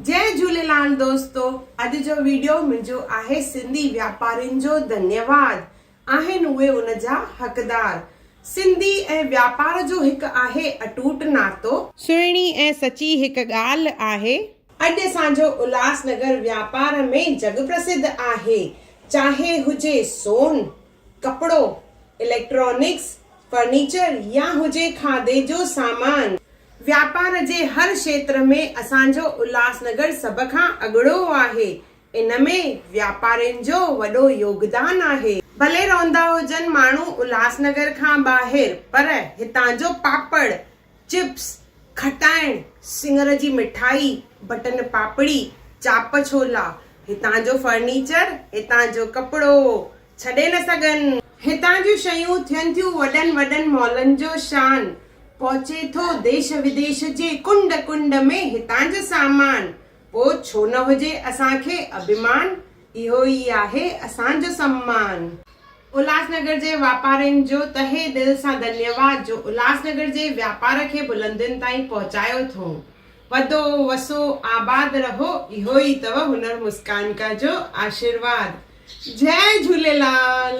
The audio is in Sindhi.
جئي جهوليلال دوستو اڄ جو ويڊيو منهنجو آهي سنڌي واپارين جو ڌنيواد آهن اهي ان جا حقدار سنڌي ۽ واپار جو هڪ آهي اٽوٽ ناتو. سهڻي ۽ سچي هڪ ڳالهه آهي. اڄ اسان جو الهاس نگر واپار ۾ جڳ پرسڌ آهي چاهي هجي سون، ڪپڙو، اليڪٽرانڪس، فرنيچر يا هجي کاڌي جو سامان. واپار جي هر کيتر ۾ اسان جو الهاسنگر سڀ کان اڳڙو آهي. ان ۾ واپارين جو وڏو يوگدان آهي. ڀلي رهندا هجن ماڻهو الهاسنگر کان ٻاهر پر هتان جو پاپڙ، چپس، کٽائڻ، سڱر جي مٺائي، بٽن پاپڙي، چاپ ڇولا، هتان جو فرنيچر، هتان جو ڪپڙو ڇڏي نه سگهن. هتان جون شيون ٿين ٿيون وڏن وڏن مالن جو شان، پهچي ٿو ديش وديش جي ڪنڊ ڪنڊ ۾ هتان جو سامان، پوء ڇو نه هجي اسان کي اڀيمان، اهو ئي آهي اسان جو سمان. الهاسنگر جي واپارين جو تهه دل سان ڌنيواد جو الهاسنگر جي واپار کي بلندين تائين پهچايو ٿئون. وڌو وسو آباد رهو اهو ئي اٿو هنر مسڪان ڪا جو آشيرواد. جئه جهوليلال.